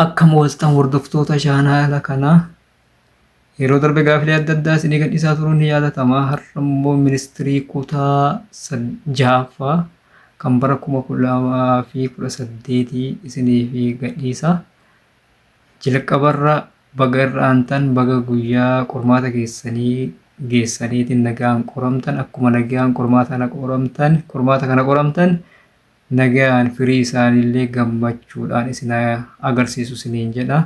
Akkam ooltan hordoftoota chaanaala kanaa. Yeroo darbe gaafilee adda addaa isinii gadhiisaa turuun ni yaadatama. Har'a immoo ministirii kutaa sad- ja'affaa kan bara kuma kudha lamaa fi kudha saddeetii isiniif gadhiisa. Jalqabarra baga irra aantan baga guyyaa qormaata keessanii geessaniitiin nagaan qoramtan akkuma nagaan qormaata kana qoramtan qormaata kana qoramtan Nagayaan firii isaaniillee gammachuudhaan isin haa agarsiisu isiniin jedha.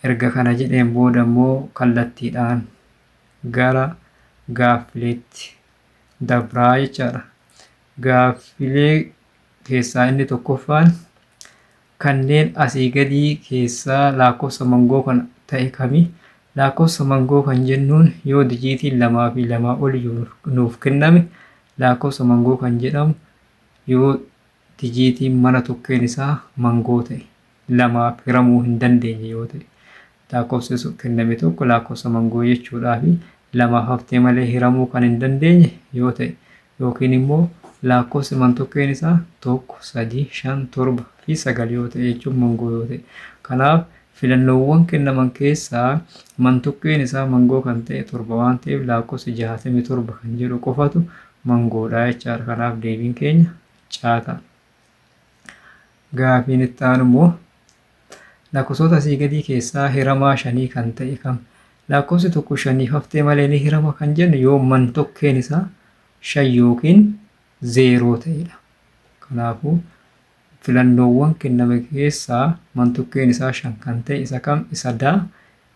Erga kana jedheen booda immoo kallattiidhaan gara gaaffileetti dabraa jechaadha. Gaaffilee keessaa inni tokkoffaan kanneen asii gadii keessaa laakkofsa mangoo kan ta'e kami? Laakkofsa mangoo kan jennuun yoo dijiitiin lamaa fi lamaa ol nuuf kenname laakkofsa mangoo kan jedhamu Yoo dijiitiin mana tokkeen isaa mangoo ta'e, lamaaf hiramuu hin dandeenye yoo ta'e, laakkofsi sun kenname tokko laakkofsa mangoo jechuudhaa fi lamaaf haftee malee hiramuu kan hin dandeenye yoo ta'e yookiin immoo laakkofsi mantokkeen isaa 1, 3, 5, 7 fi 9 yoo ta'e jechuun mangoo yoo ta'e. Kanaaf filannoowwan kennaman keessaa mantokkeen isaa mangoo kan ta'e 7 waan ta'eef laakkofsi 67 kan jedhu qofatu mangoo dha jechaadha. Kanaaf deebiin keenya caa ta'a. Gaafiin itti aanu immoo lakkoofsota asii gadii keessaa hiramaa shanii kan ta'e kam? Lakkoofsi tokko shaniif haftee malee ni hirama kan jennu yoo man tokkeen isaa shan yookiin zeeroo ta'edha. Kanaafuu filannoowwan kenname keessaa man tokkeen isaa shan kan ta'e isa kam? Isa daa,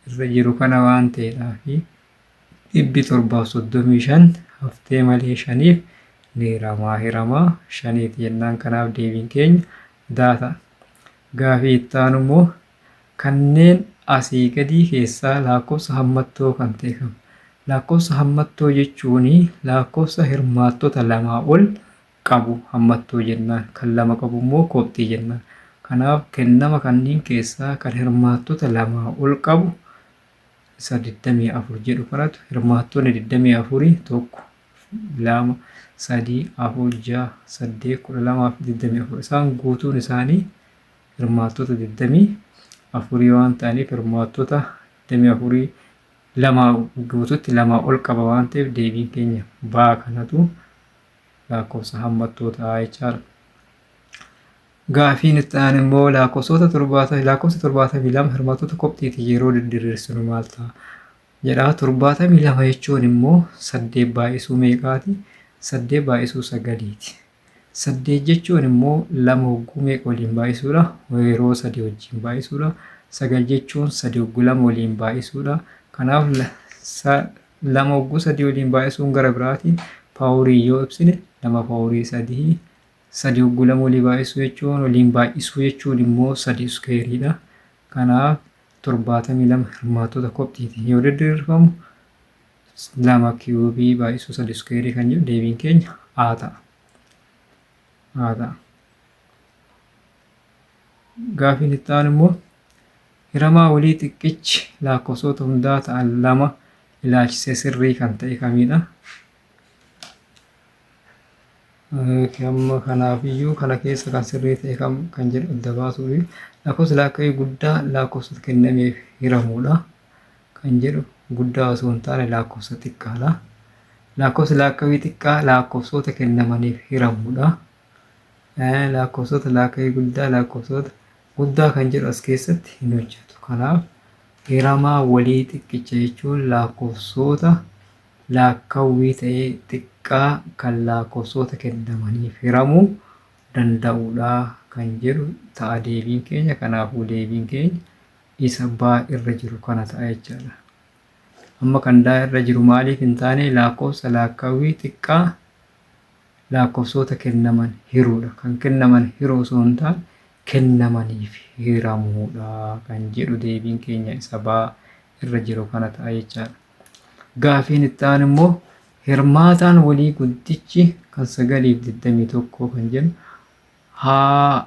irra jiru kana waan ta'eedhaafi. 735 haftee malee shaniif ni hiramaa hiramaa shaniiti jennaan kanaaf deebiin keenya daa ta'a. Gaafii itti aanu immoo kanneen asii gadii keessaa laakkofsa hammattoo kan ta'e kam? Laakkofsa hammattoo jechuun laakkofsa hirmaattota lamaa ol qabu hammattoo jennaan. Kan lama qabu immoo kophxii jennaan. Kanaaf kennama kanniin keessaa kan hirmaattota lamaa ol qabu isa 24 jedhu kanatu hirmaattonni 24 tokko, lama, sadii, afur, ja'a, saddeet, kudha lamaa fi 24 isaan guutuun isaanii hirmaattota 24 waan ta'aniif hirmaattota 24 lamaa guututti lamaa ol qaba waan ta'eef deebiin keenya baa kanatu laakkoofsa hammattoota jechaadha. Gaafiin itti aanu immoo laakkoofsota torbaata laakkoofsa torbaatamii lama hirmaattota kopxiitiin yeroo didiriirsinu maal ta'a? jedha. Torbaatamii lama jechuun immoo saddeet baay'isuu meeqaati? Saddeet baay'isuu sagaliiti. Saddeet jechuun immoo lama hogguu meeqa waliin baay'isuudha? Yeroo sadii wajjin baay'isuudha. Sagal jechuun sadii hogguu lama waliin baay'isuudha. Kanaaf lama hogguu sadii waliin baay'isuun gara biraati paawurii yoo ibsine lama paawurii sadii sadii hogguu lama walii baay'isuu jechuun waliin baay'isuu jechuun immoo sadii iskeeriidha. Kanaaf torbaatamii lama hirmaattota kopxiitiin yoo diriirfamu lama kiyuubii baay'isuu sadii iskeerii kan jedhu deebiin keenya A ta'a. A ta'a. Gaafiin itti aanu immoo hiramaa walii xiqqichi laakkosoota hundaa ta'an lama ilaachisee sirrii kan ta'e kamiidha? Amma kanaaf iyyuu kana keessa kan sirrii ta'e kam kan jedhu adda baasuu fi lakkoofsi laakka'ii guddaa laakkoofsota kennameef hiramuudha kan jedhu guddaa osoo hin taane laakkoofsa xiqqaadha. Laakkoofsi laakka'ii xiqqaa laakkoofsota kennamaniif hiramuudha. Laakkoofsota laaka'ii guddaa laakkoofsota guddaa kan jedhu as keessatti hin hojjetu. Kanaaf hiramaa walii xiqqicha jechuun laakkoofsota laakkawwii ta'ee xiqqaa kan laakkoofsota kennamaniif hiramuu danda'udha kan jedhu ta'a deebiin keenya. Kanaafuu deebiin keenya isa baa irra jiru kana ta'a jechaadha. Amma kan daa irra jiru maaliif hin taane laakkoofsa laakkawwii xiqqaa laakkofsoota kennaman hiruudha. Kan kennaman hiruu osoo hin taane kennamaniif hiramuudha kan jedhu deebiin keenya isa baa irra jiru kana ta'a jechaadha. Gaafiin itti aanu immoo hirmaataan walii guddichi kan sagaliif 21 kan jennu haa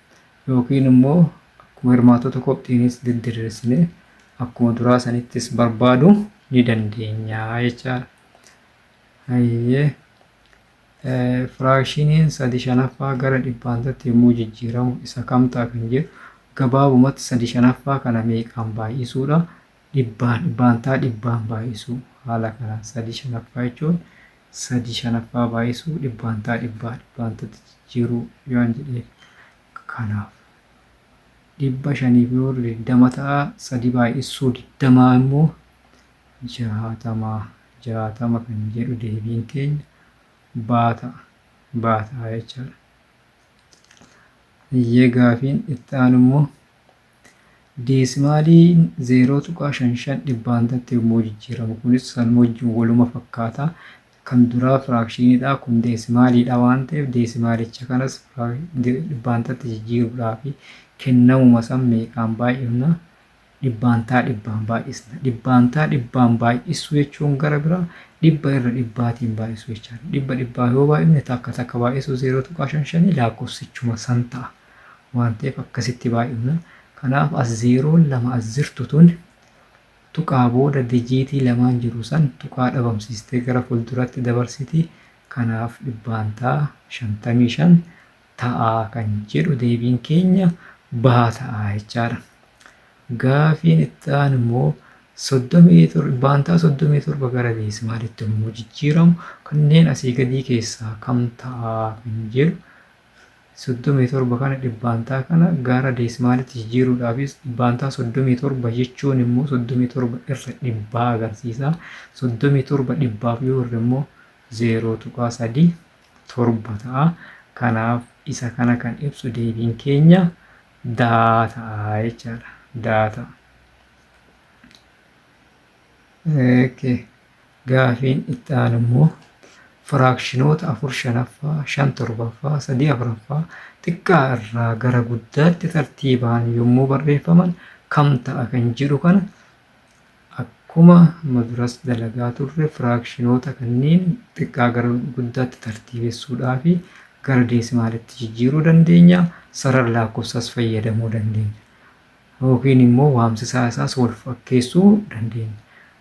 Yookiin immoo akkuma hirmaattota kopxiinis diddiriirsinee akkuma duraa sanittis barbaadu ni dandeenya jechaadha. Hayyee firaakshiniin sadi shanaffaa gara dhibbaantatti yommuu jijjiiramu isa kam ta'a kan jedhu gabaabumatti sadi shanaffaa kana meeqaan baay'isuudha dhibbaan dhibbaantaa dhibbaan baay'isuu haala kanaan sadii shanaffaa jechuun sadii shanaffaa baay'isuu dhibbaantaa dhibbaa dhibbaantatti jijjiiruu yoon jedheef kanaaf dhibba shaniif yoo digdama ta'a sadii baay'isuu digdamaa immoo jaatamaa jaatama kan jedhu deebiin keenya baata baata jechaadha. Iyyee gaafiin itti aanu immoo Deesimaaliin 0.55 dhibbaantatti yommuu jijjiiramu kunis sanuma wajjin waluma fakkaata. Kan duraa firaakshiinidha kun deesimaaliidha waan ta'eef deesimaalicha kanas dhibbaantatti jijjiiruudhaaf kennamuma san meeqaan baay'ifna dhibbaantaa dhibbaan baay'isna. Dhibbaantaa dhibbaan baay'isuu jechuun gara biraa dhibba irra dhibbaatiin baay'isuu jechaadha. Dhibba dhibbaa yoo baay'ifne takka takka baay'isuu 0.55 lakkoofsichuma san ta'a. waan ta'eef akkasitti baay'ifna. Kanaaf as zeeroon lama as jirtu tun tuqaa booda dijiitii lamaan jiru san tuqaa dhabamsiistee gara fuulduratti dabarsiti. Kanaaf dhibbaantaa 55 ta'a kan jedhu deebiin keenya bahaa ta'a jechaadha. Gaafiin itti aanu immoo soddomii tor- dhibbaantaa 37 gara deesimaalitti yommuu jijjiiramu kanneen asii gadii keessaa kam ta'a kan jedhu 37 kana dhibbaantaa kana gaara deesimaalitti jijjiiruudhaafis dhibbaantaa 37 jechuun immoo 37 irra dhibbaa agarsiisa. 37 dhibbaaf yoo hirre immoo 0.37 ta'a. Kanaaf isa kana kan ibsu deebiin keenya daa ta'a jechaadha. Daa ta'a. Okay. Gaafiin itti aanu immoo firaakshinoota 4 shanaffaa, 5 torbaffaa, 3 afraffaa xiqqaa irraa gara guddaatti tartiibaan yommuu barreeffaman kam ta'a kan jedhu kana akkuma maduras dalagaa turre firaakshinoota kanneen xiqqaa gara guddaatti tartiibessuudhaa fi gara deesimaalitti jijjiiruu dandeenya sarara laakkofsaas fayyadamuu dandeenya yookiin immoo waamsisaa isaas wal fakkeessuu dandeenya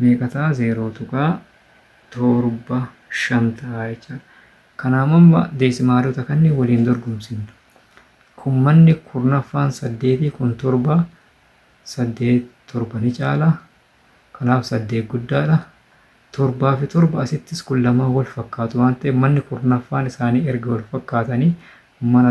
meeqa ta'a? 0.75 ta'a jechaadha. Kanaaf amma deesimaalota kanneen waliin dorgomsiifna. Kun manni kurnaffaan saddeetii kun torba saddeet torba ni caala. Kanaaf saddeet guddaadha. Torbaa fi torba asittis kun lamaan wal fakkaatu waan ta'eef manni kurnaffaan isaanii erga wal fakkaatanii mana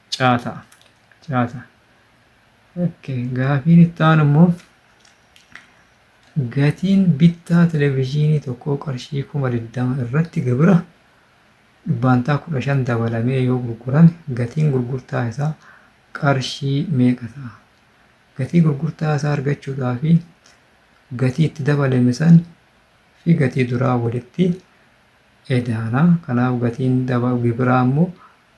Caata. Caata. Okay. Gaafiin itti aanu immoo gatiin bittaa televezyiinii tokkoo qarshii kuma digdama irratti gibira dhibbaantaa kudha shan dabalamee yoo gurgurame gatiin gurgurtaa isaa qarshii meeqa ta'a? Gatii gurgurtaa isaa argachuudhaa fi gatii itti dabalame san fi gatii duraa walitti edaana. Kanaaf gatiin daba gibiraa immoo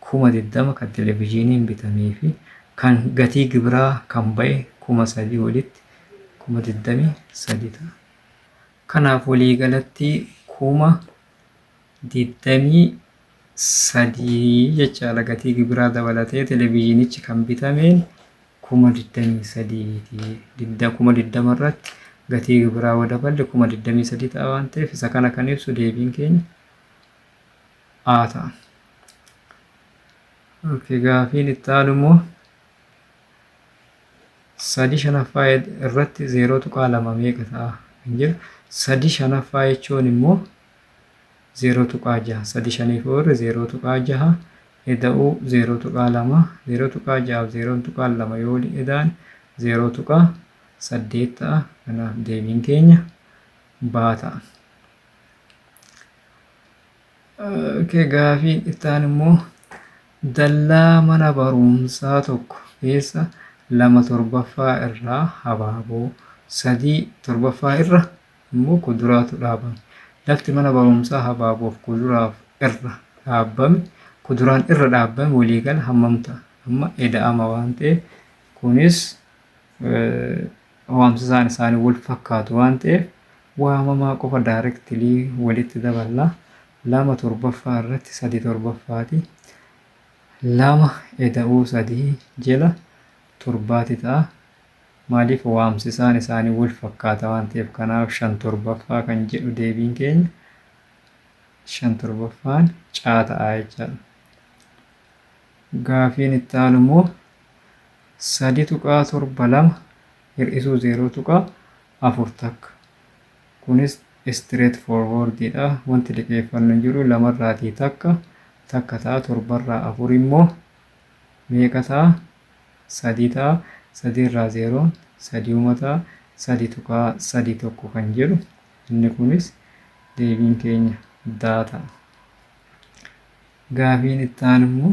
kuma 20 kan televijiiniin bitamee fi kan gatii gibiraa kan ba'e kuma 3 walitti kuma 23 ta'a. Kanaaf waliigalatti kuma 23 jechaadha gatii gibiraa dabalatee televijiinichi kan bitameen kuma 23 ti. Didda kuma 20 irratti gatii gibiraa yoo daballe kuma 23 ta'a waan ta'eef isa kana kan ibsu deebiin keenya haa ta'an. Okay, gaafiin itti aanu immoo sadi shanaffaa irratti zeeroo tuqaa lama meeqa ta'a kan jedhu sadi shanaffaa jechuun immoo zeeroo tuqaa jaha sadi shaniif oolre zeeroo tuqaa jaha eda'uu zeeroo tuqaa lama zeeroo tuqaa jahaaf zeeroo tuqaa lama yoo waliin eda'an zeeroo tuqaa saddeet ta'a kanaaf deebiin keenya baa ta'a. Okay, gaafiin ittaan immoo dallaa mana barumsaa tokko keessa lama torbaffaa irraa habaaboo sadii torbaffaa irra immoo kuduraatu dhaabame. Lafti mana barumsaa habaaboof kuduraaf irra dhaabame kuduraan irra dhaabame waliigala hammam ta'a? Amma eda'ama waan ta'eef kunis waamsisaan isaanii wal fakkaatu waan ta'eef waamamaa qofa daarektilii walitti daballa lama torbaffaa irratti sadi torbaffaati lama eda'uu sadii jela torbaati ta'a maaliif waamsisaan isaanii wal fakkaata waan ta'eef kanaaf shan torbaffaa kan jedhu deebiin keenya shan torbaffaan caa ta'a jechaadha. Gaafiin itti aanu immoo 3.72 hir'isuu 0.4 takka kunis straight forward dha wanti liqeeffannu hin jiru lamarraatii takka takka ta'a torbarraa afur immoo meeqa ta'a sadii ta'a sadiirraa zeeroon sadiuma ta'a sadi tuqaa sadi tokko kan jedhu inni kunis deebiin keenya daa ta'a gaafiin itti aanu immoo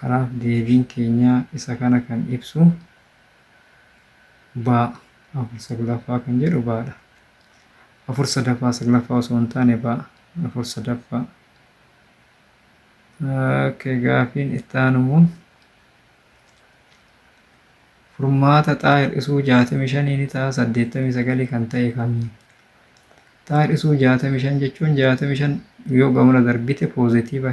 Kanaaf deebiin keenya isa kana kan ibsu baa afur saglaffaa kan jedhu baadha. Afur sadaffaa saglaffaa osoo hin taane baa afur sadaffaa. Ookee gaafiin itti aanu immoo furmaata xaa hir'isuu jaatamii shanii ni ta'a saddeettamii sagalii kan ta'e kami? Xaa hir'isuu jaatamii shan jechuun jaatamii shan yoo gamana darbite poozitiiva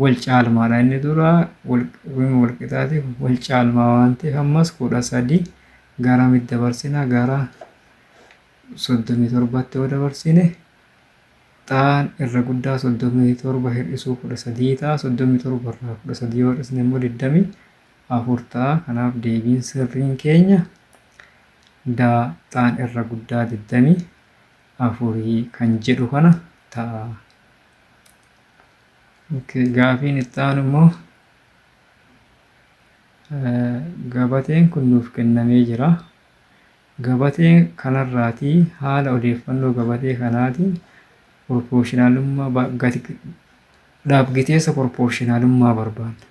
wal caalmaadha inni dura wal wal qixaati wal caalmaa waan ta'eef ammas kudha sadii gara mid dabarsina gara soddomii torbatti yoo dabarsine xaan irra guddaa soddomii torba hir'isuu kudha sadii ta'a soddomii torba irraa kudha sadii yoo hir'isne immoo digdamii afur ta'a kanaaf deebiin sirriin keenya daa xaan irra guddaa digdamii afurii kan jedhu kana ta'a. Gaafiin itti aanu immoo gabateen kun nuuf kennamee jira. Gabatee kanarraatii haala odeeffannoo gabatee kanaatiin proportionalummaa ba- gati dhaabgiteessa proportionalummaa barbaadna.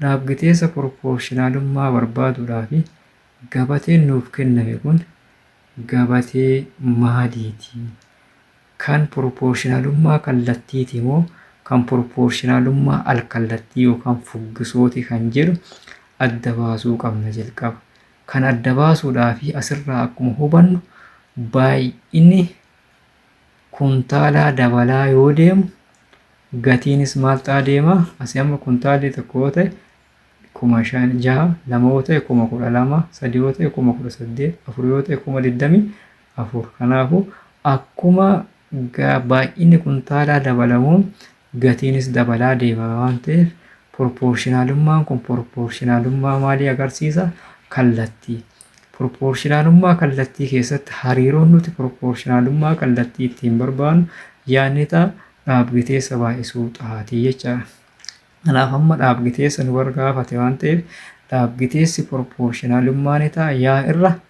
Dhaabgiteessa proportionalummaa barbaaduudhaaf gabateen nuuf kenname kun gabatee maaliiti? Kan proportionalummaa kallattiiti moo kan proportionalummaa alkallattii yookaan fuggisooti kan jedhu adda baasuu qabna jalqaba. Kan adda baasuudhaaf asirraa akkuma hubannu baay'inni kuntaalaa dabalaa yoo deemu gatiinis maal ta'a deema? Asii amma kuntaalli tokko yoo ta'e kuma shan jaha lama yoo ta'e kuma kudha lama sadi yoo ta'e kuma kudha saddeet afur yoo ta'e kuma digdamii 4. Kanaafuu, akkuma baay'inni kuntaalaa dabalamu gatiinis dabalaa deema waan ta'eef proportionalummaan kun proportionalummaa maalii agarsiisa? Kallattii. Proportionalummaa kallattii keessatti hariiroon nuti proportionalummaa kallattii ittiin barbaannu yaadni ta'a dhaabgiteessa baay'isuu xaatii jechaadha. Kanaaf amma dhaabgiteessa nu bargaafate waan ta'eef dhaabgiteessi proportionalummaa ni ta'a yaa irra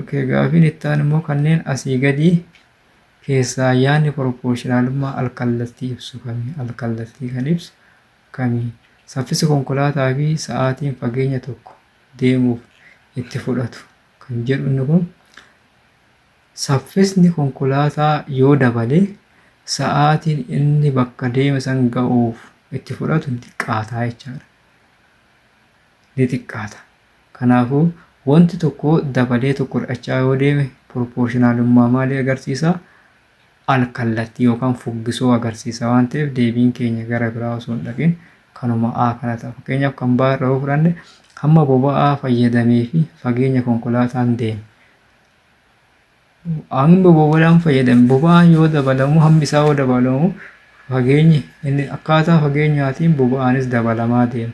Okay, gaafiin itti aanu immoo kanneen asii gadii keessaa yaadni proportionalummaa alkallattii ibsu kami? Alkallattii kan ibsu kami? Saffisi konkolaataa fi sa'aatiin fageenya tokko deemuuf itti fudhatu kan jedhu inni kun saffisni konkolaataa yoo dabale sa'aatiin inni bakka deeme san ga'uuf itti fudhatu xiqqaataa jechaadha. ni xiqqaata. Kanaafuu, wanti tokko dabalee tokko hir'achaa yoo deeme piroporshinaalummaa maalii agarsiisa? Al-kallattii yookaan fuggisoo agarsiisa waan ta'eef deebiin keenya gara biraa osoo hin dhaqin kanuma A kana ta'a. Fakkeenyaaf kan B irra yoo fudhanne hamma boba'aa fayyadamee fi fageenya konkolaataan deeme Hammi boba'aan fayyadame boba'aan yoo dabalamu hammi isaa yoo dabalamu fageenyi inni akkaataa fageenyaatiin boba'aanis dabalamaa deema.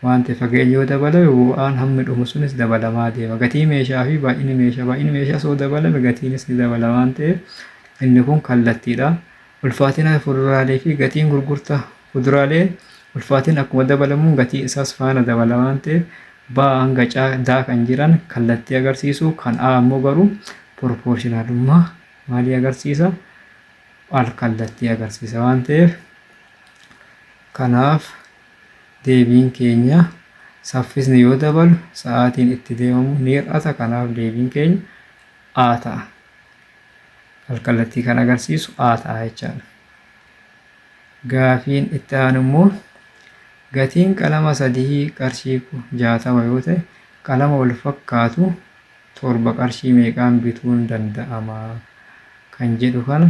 Waan ta'eef fageenyi yoo dabalame boba'aan hammi dhumu sunis dabalamaa deema. Gatii meeshaa fi baay'inni meeshaa baay'inni meeshaas yoo dabalame gatiinis ni dabala waan ta'eef inni kun kallattiidha. Ulfaatina fuduraalee fi gatiin gurgurtaa fuduraalee ulfaatinni akkuma dabalamuun gatii isaas faana dabala waan ta'eef baa hanga C, D kan jiran kallattii agarsiisu kan A immoo garuu proportionalummaa maalii agarsiisa? Al kallattii agarsiisa waan ta'eef kanaaf deebiin keenya saffisni yoo dabalu sa'aatiin itti deemamu ni hir'ata kanaaf deebiin keenya A ta'a. alkallattii kan agarsiisu A ta'a jechaadha. Gaafiin itti aanu immoo gatiin qalama sadii qarshii jaatama yoo ta'e qalama wal fakkaatu torba qarshii meeqaan bituun danda'ama kan jedhu kana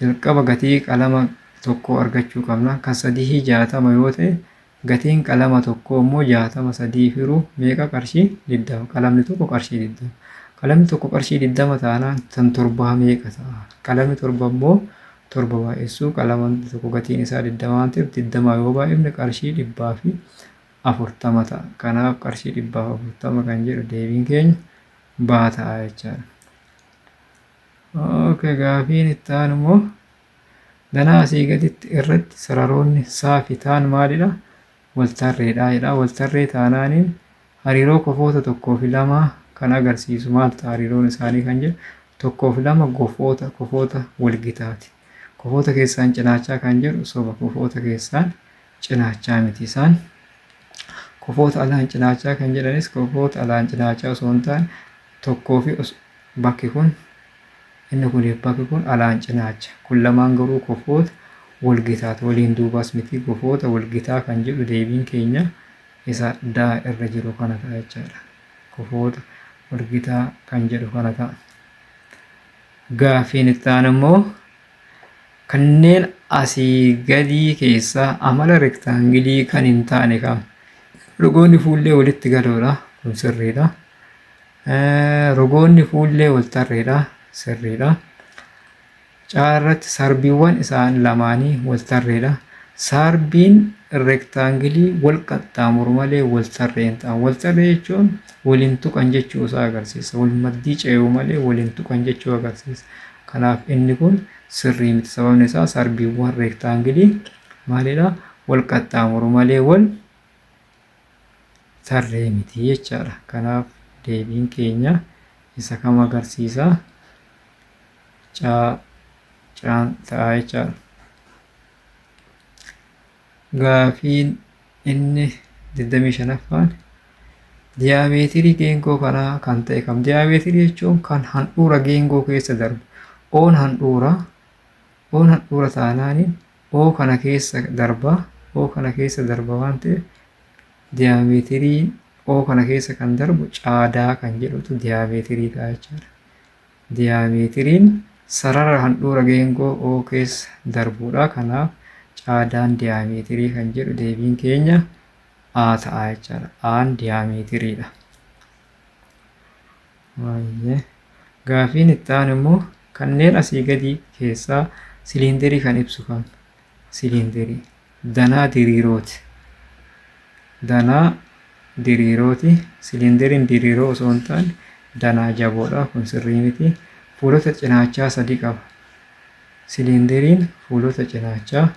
jalqaba gatii qalama tokkoo argachuu qabna. Kan sadii jaatama yoo ta'e Gatiin qalama tokkoo immoo 60 sadiif hiruu meeqa qarshii 20 qalamni tokko qarshii 20 qalamni tokko qarshii 20 taanaan tan torbaa meeqa ta'a qalamni torba immoo torba baay'essuu qalama tokko gatiin isaa 20 waan ta'eef 20 yoo baay'ifne qarshii 140 ta'a kanaaf qarshii 140 kan jedhu deebiin keenya baa ta'a jechaadha. Okay gaafiin itti aanu immoo Danaa asii gaditti irratti sararoonni saa fi taan maalidha? Waltarreedha jedha. Waltarree taanaaniin hariiroo kofoota tokkoo fi lamaa kan agarsiisu maal ta'a hariiroon isaanii kan jedhu tokkoo fi lama gofoota kofoota walgitaati. Kofoota keessaan cinaachaa kan jedhu soba kofoota keessaan cinaachaa miti isaan. Kofoota alaan cinaachaa kan jedhanis kofoota alaan cinaachaa osoo hin taane tokkoo fi bakki kun inni kun bakki kun alaan cinaacha. Kun lamaan garuu kofoota walgitaati waliin duubaas miti kofoota walgitaa kan jedhu deebiin keenya isa daa irra jiru kana ta'a jechaadha. Kofoota walgitaa kan jedhu kana ta'a. Gaafiin itti aanu immoo Kanneen asii gadii keessaa amala rektaangilii kan hin taane kam? Rogoonni fuullee walitti galoodha. Kun sirriidha. Rogoonni fuullee wal tarreedha. Sirriidha. Caarratti sarbiiwwan isaan lamaanii wal tarreedha. Sarbiin rektaangilii wal qaxxaamuru malee wal tarree hin ta'an. Wal tarree jechuun wal hin tuqan jechuu isaa agarsiisa. Wal maddii ce'uu malee wal hin tuqan jechuu agarsiisa. Kanaaf inni kun sirrii miti. Sababni isaa sarbiiwwan reektaangilii maalidha? Wal qaxxaamuru malee wal tarree miti jechaadha. Kanaaf deebiin keenya isa kam agarsiisa? Caa caan ta'a jechaadha. Gaafiin inni 25ffaan diyaameetirii geengoo kanaa kan ta'e kam? Diyaameetirii jechuun kan handhuura geengoo keessa darbu. Oon handhuura, oon handhuura taanaaniin oo kana keessa darba, oo kana keessa darba waan ta'eef diyaameetirii oo kana keessa kan darbu caadaa kan jedhutu diyaameetirii ta'a jechaadha. Diyaameetiriin sarara handhuura geengoo O keessa darbuudha. Kanaaf caadaan diyaameetirii kan jedhu deebiin keenya A ta'a jechaadha. A'n diyaameetiriidha. Baay'ee. Gaafiin itti aanu immoo kanneen asii gadii keessaa siliindarii kan ibsu kami? siliindarii danaa diriirooti. Danaa diriirooti. Siliindariin diriiroo osoo hin taane danaa jaboodha. Kun sirrii miti. Fuulota cinaachaa sadi qaba. Siliindariin fuulota cinaachaa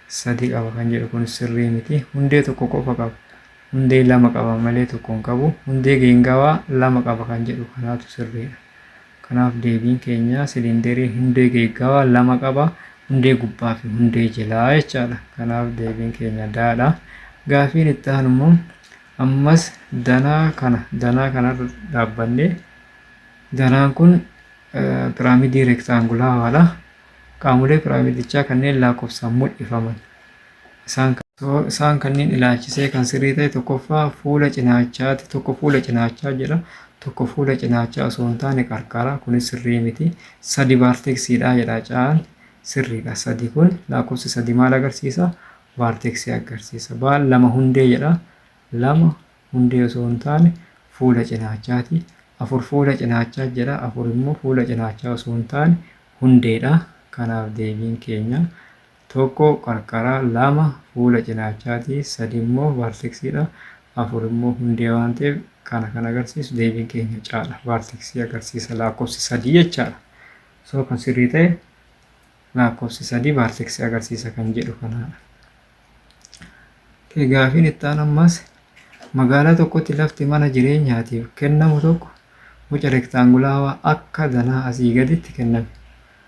sadi qaba kan jedhu kun sirrii miti. Hundee tokko qofa qaba. Hundee lama qaba malee tokko hin qabu. Hundee geengawaa lama qaba kan jedhu kanaatu sirriidha. Kanaaf deebiin keenya siliinderii hundee geeggaawaa lama qaba. Hundee gubbaa fi hundee jelaa jechaadha. Kanaaf deebiin keenya daadha. Gaafiin itti aanu immoo ammas danaa kana danaa kanarra dhaabbannee danaan kun piraamidii reektaangulaawaadha. Qaamolee piraamidichaa kanneen lakkoofsaan mul'ifaman. Isaan kana. So, isaan kanniin ilaalchisee kan sirrii ta'e tokkoffaa fuula cinaachaati. Tokko fuula cinaachaa jedha. Tokko fuula cinaachaa osoo hin taane qarqara. Kunis sirrii miti. Sadi vaarteksiidha jedha caan. Sirriidha. Sadi kun lakkoofsi sadi maal agarsiisa? Vaarteksii agarsiisa. Baal lama hundee jedha. Lama hundee osoo hin taane fuula cinaachaati. Afur fuula cinaachaa jedha. Afur immoo fuula cinaachaa osoo hin taane hundeedha. Kanaaf deebiin keenya 1 qarqara 2 fuula cinaachaati 3 immoo vaarteksiidha 4 immoo hundee waan ta'eef kana kan agarsiisu deebiin keenya caadha vaarteksii agarsiisa laakkofsi 3 jechaadha soo kan sirrii ta'e laakkofsi 3 vaarteksii agarsiisa kan jedhu kanaadha. Okay, gaafiin itti aanu ammas magaalaa tokkotti lafti mana jireenyaatiif kennamu tokko boca rektaangulaawaa akka danaa asii gaditti kenname.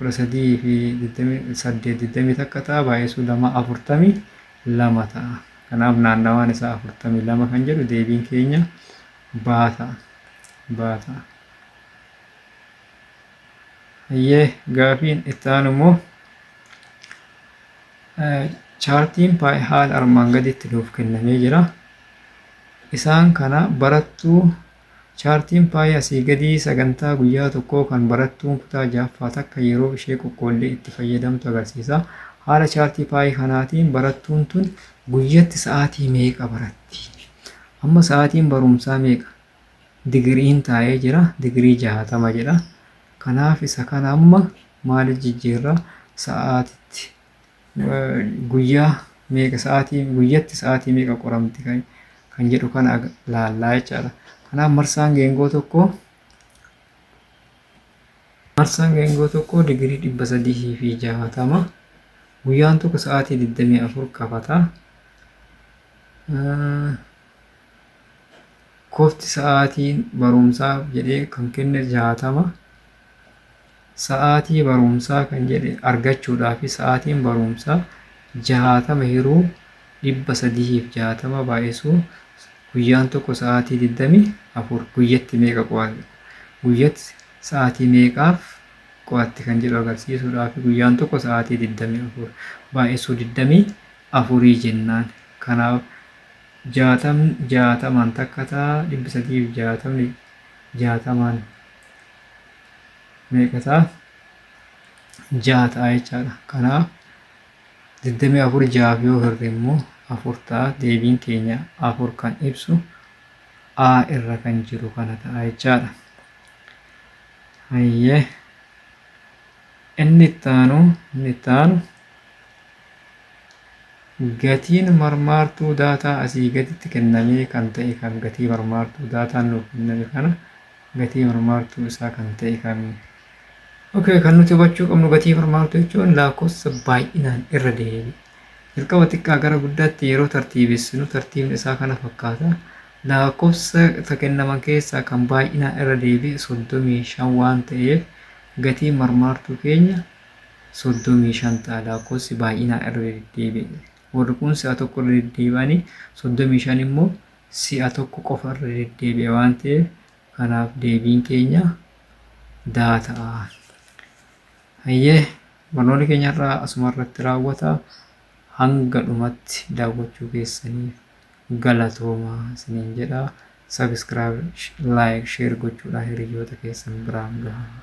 13:28 20 takka ta'a baay'isuu 2 42 ta'a. Kanaaf naannawaan isaa 42 kan jedhu deebiin keenya baa ta'a. Baa ta'a. Hayyee gaafiin itti aanu immoo chaartiin paay haala armaan gadiitti nuuf kennamee jira. Isaan kana barattuu Chaartiin paayii asii gadii sagantaa guyyaa tokkoo kan barattuun kutaa 6ffaa takka yeroo ishee qoqqoollee itti fayyadamtu agarsiisa. Haala chaartii paayii kanaatiin barattuun tun guyyatti sa'aatii meeqa baratti? Amma sa'aatiin barumsaa meeqa? Digiriin taa'ee jira. Digirii 60 jedha. Kanaaf isa kana amma maaliif jijjiirra? Sa'aatitti. guyyaa meeqa sa'aatii guyyatti sa'aatii meeqa qoramti kan kan jedhu kana ag- laallaa jechaadha. Kanaaf marsaan geengoo tokko marsaan geengoo tokko digirii dhibba sadii fi jaatama guyyaan tokko sa'aatii digdamii afur qabata. Eh, Kofti sa'aatiin barumsaaf jedhee kan kenne jaatama. Sa'aatii barumsaa kan jedhe argachuudhaaf sa'aatiin barumsaa 60 hiruu 360 baay'isuu guyyaan tokko sa'aatii 24 guyyatti meeqa qo'ate guyyatti sa'aatii meeqaaf qo'atte kan jedhu agarsiisuudhaaf guyyaan tokko sa'aatii 24 baay'isuu 24 jennaan kanaaf jaatam jaatamaan takka ta'a dhibbi sadiif jaatamni jaatamaan meeqa ta'a? jaha ta'a jechaadha. Kanaaf 24 jahaaf yoo hirre immoo afur ta'a deebiin keenya afur kan ibsu A irra kan jiru kana ta'a jechaadha. Hayyee inni itti aanu inni itti aanu gatiin marmaartuu daataa asii gaditti kennamee kan ta'e kan gatii marmaartuu daataan nuuf kenname kana Gatii marmaartuu isaa kan ta'e kami? Ok, kan nuti hubachuu qabnu gatii marmaartuu jechuun laakkoofsa baay'inaan irra deebi. Jalqaba xiqqaa gara guddaatti yeroo tartiibessinu tartiibni isaa kana fakkaata. Laakkoofsa ta kennaman keessaa kan baay'inaan irra deebi 35 waan ta'eef gatii marmaartuu keenya 35 ta'a laakkoofsi baay'inaan irra deddeebi'e. Warri kun si'a tokko irra deddeebi'anii 35 immoo si'a tokko qofa irra deddeebi'a waan ta'eef kanaaf deebiin keenya daa ta'a. Hayyee barnoonni keenya irraa asuma irratti raawwata hanga dhumatti daawwachuu keessaniif galatooma isiniin jedha. Sabiskiraayib, laayik, sheer gochuudhaan hiriyoota keessan biraan gahaa.